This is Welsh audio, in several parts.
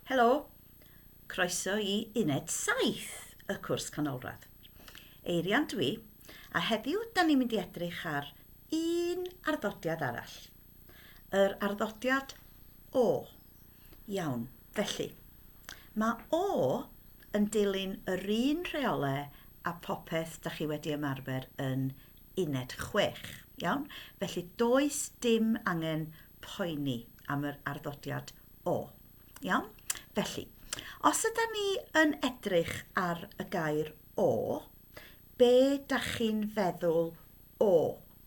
Helo, croeso i uned 7 y cwrs canolradd. Eirian dwi, a heddiw da ni'n mynd i edrych ar un arddodiad arall. Yr arddodiad O. Iawn, felly, mae O yn dilyn yr un rheolau a popeth da chi wedi ymarfer yn uned 6. Iawn? Felly does dim angen poeni am yr arddodiad o. Iawn? Felly, os yda ni yn edrych ar y gair o, be da chi'n feddwl o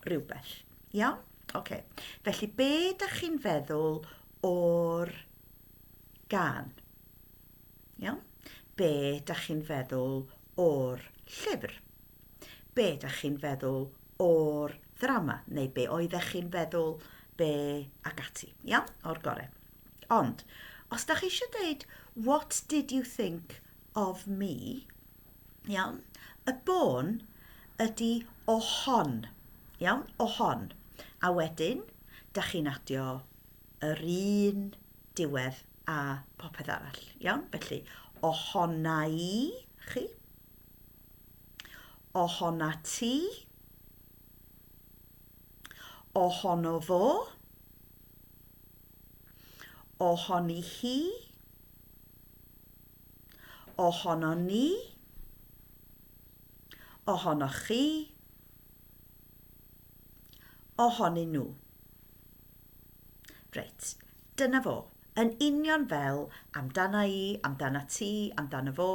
rhywbeth? Iawn? Okay. Felly, be da chi'n feddwl o'r gan? Iawn? Be da chi'n feddwl o'r llyfr? Be da chi'n feddwl o'r ddrama, neu be oeddech chi'n feddwl, be ac ati. Iawn? O'r gore. Ond, os da chi eisiau dweud, what did you think of me? Iawn? Y bôn ydy o hon. Iawn? O hon. A wedyn, da chi'n adio yr un diwedd a popeth arall. Iawn? Felly, o honna i chi. Ohona ti Ohono fo Ohoni hi Ohono ni Ohonoch chi Ohonyn nhw Reit, Dyna fo. Yn union fel amdana i, amdanat ti, amdano fo,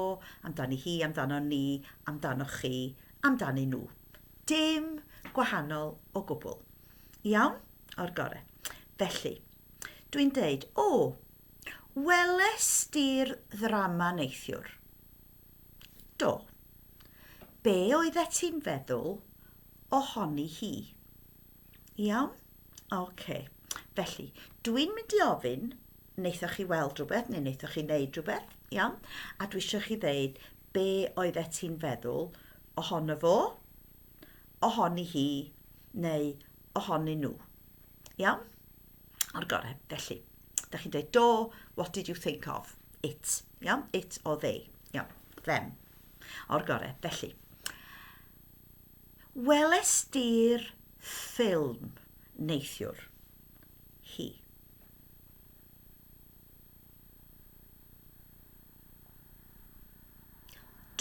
amdani hi, amdanon ni, amdanoch chi, amdanyn nhw. Dim gwahanol o gwbl. Iawn? O'r gore. Felly, dwi'n deud, o, weles di'r ddrama neithiwr? Do. Be oeddet ti'n feddwl ohoni hi? Iawn? OK. Felly, dwi'n mynd i ofyn, wnaethoch chi weld rhywbeth neu wnaethoch chi wneud rhywbeth, iawn? A dwi eisiau chi ddeud be oedd et ti'n feddwl ohono fo, ohoni hi neu ohoni nhw. Iawn? O'r gorau. Felly, da chi'n dweud do, what did you think of? It. Iawn? It or they. Iawn. Them. O'r gorau. Felly, Welest ti'r ffilm neithiwr? Hi.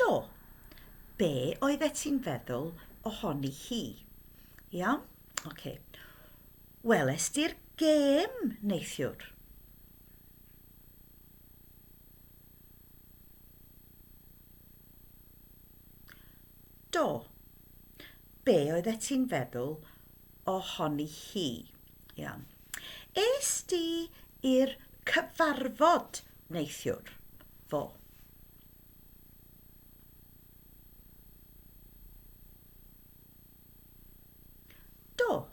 Do. Be oeddet ti'n feddwl ohoni hi? Iawn? Ocê. Welest ti'r gêm neithiwr? Do. Be oeddet ti'n feddwl ohoni hi? Iawn. Es di i'r cyfarfod neithiwr? Fo. Do.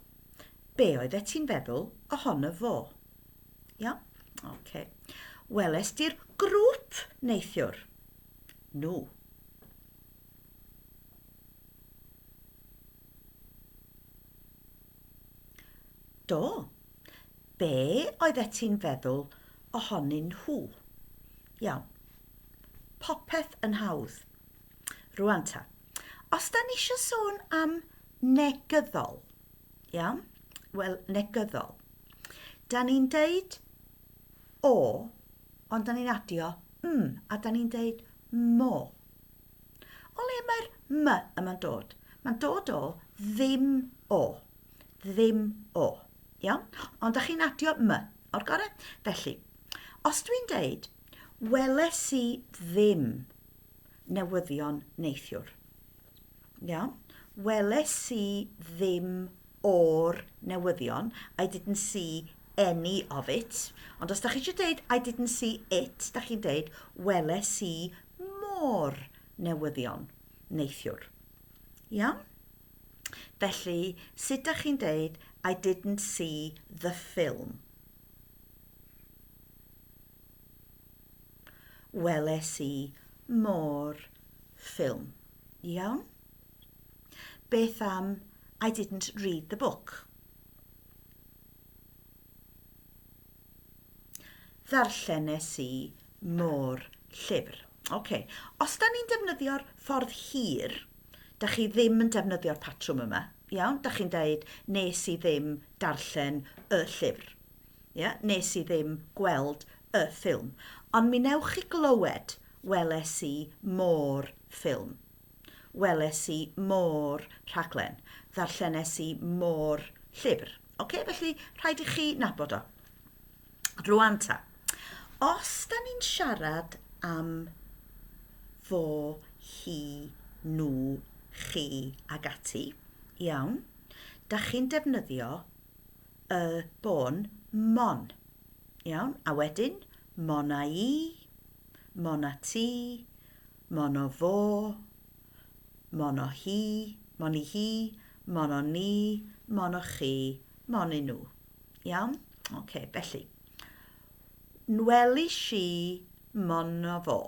Be oeddet ti'n feddwl ohono fo? Iawn? Oce. Weles di'r grŵp neithiwr? nhw. Do, be oeddet ti'n feddwl ohonyn nhw? Iawn, popeth yn hawdd. Rwan ta, os da ni eisiau sôn am negyddol, iawn? Wel, negyddol. Da ni'n deud o Ond 'da ni'n adio m a 'da ni'n deud mo. O le mae'r m yma'n dod? Mae'n dod o ddim o. Ddim o. Iawn? Ond 'da chi'n adio m o'r gorau? Felly, os dwi'n deud, weles i ddim newyddion neithiwr. Iawn. Weles i ddim o'r newyddion. I didn't see any of it. Ond os da chi eisiau dweud I didn't see it, da chi'n dweud weles i mor newyddion neithiwr. Iawn? Felly, sut da chi'n dweud I didn't see the film? Weles i mo'r ffilm. Iawn? Beth am I didn't read the book? Ddarllenes i mo'r llyfr. OK. Os da ni'n defnyddio'r ffordd hir, da chi ddim yn defnyddio'r patrwm yma. Iawn? Da chi'n deud, nes i ddim darllen y llyfr. Ia, nes i ddim gweld y ffilm. Ond mi newch chi glywed, weles i mo'r ffilm. Weles i mo'r rhaglen. Ddarllenes i mo'r llyfr. Oce, felly rhaid i chi nabod o. Rwan ta, os da ni'n siarad am fo, hi, nhw, chi ag ati, iawn, da chi'n defnyddio y bôn, mon. Iawn, a wedyn, mon a i, mon a ti, mon o fo, mon o hi, mon i hi, mon o ni, mon o chi, mon i nhw. Iawn? Oce, okay, felly. Nweli si mon o fo.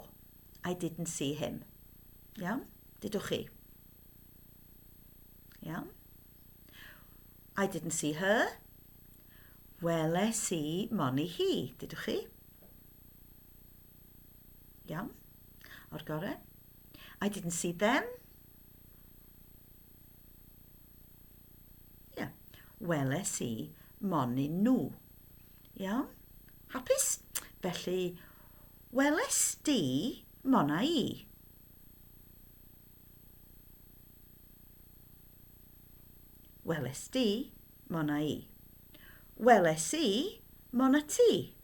I didn't see him. Iawn? Dydwch chi? Iawn? I didn't see her. Weles i moni hi, dydwch chi? Iawn, o'r gorau. I didn't see them. Yeah, weles i moni nhw. Iawn, hapus? Felly, weles di mona i. Weles di, mona i. Weles i, mona ti.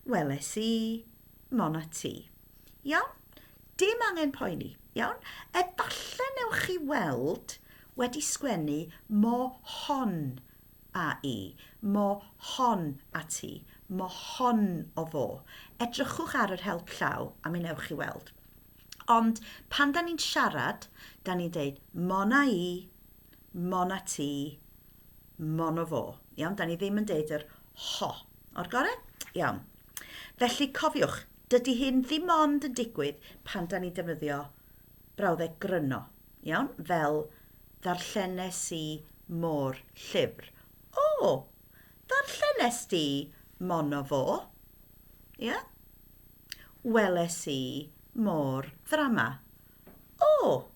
Weles i, mona ti. Iawn? Dim angen poeni, iawn? Efallai newch chi weld wedi sgwennu mo hon a i, mo hon a ti, mo hon o fo. Edrychwch ar yr help llaw a mi newch chi weld. Ond pan da ni'n siarad, da ni'n deud mon a i, mon a ti, mon o fo. Iawn, da ni ddim yn deud yr ho. O'r gore? Iawn. Felly cofiwch, dydy hyn ddim ond yn digwydd pan da ni'n defnyddio brawddeg gryno. Iawn, fel, ddarllenes i mo'r llyfr. O! Ddarllenes di mono fo? Ia? Weles i mo'r ddrama. O!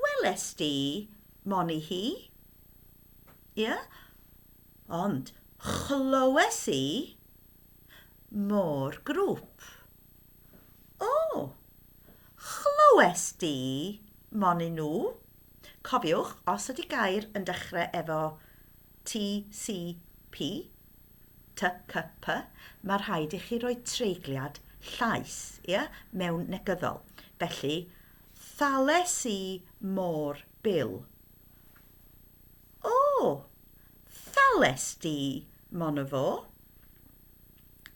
Weles di moni hi? Ia? Ond chlywes i mo'r grŵp. O! Chlywes di? Monyn nhw. Cofiwch, os ydy gair yn dechrau efo TCP, TCP, mae rhaid i chi roi treigliad llaes, ia, mewn negyddol. Felly, thales i mor bil. O! Thales di, mon y fo.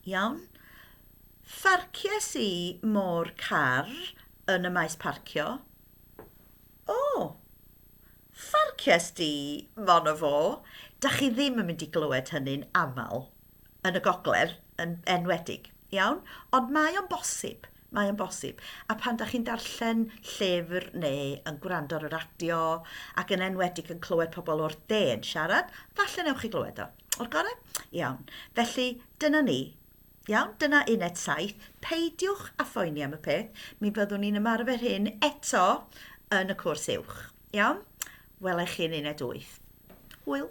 Iawn. Pharcies i mo'r car yn y maes parcio. O! Pharcies di mon o fo? Dach chi ddim yn mynd i glywed hynny'n aml yn y gogledd yn enwedig, iawn? Ond mae o'n bosib, mae o'n bosib. A pan dach chi'n darllen llyfr neu yn gwrando ar y radio ac yn enwedig yn clywed pobl o'r de yn siarad, falle newch chi glywed o. O'r gorau? Iawn. Felly, dyna ni. Iawn, dyna uned 7. Peidiwch a phoeni am y peth, mi fyddwn ni'n ymarfer hyn eto yn y cwrs uwch. Iawn? Welai chi yn uned 8. Hwyl.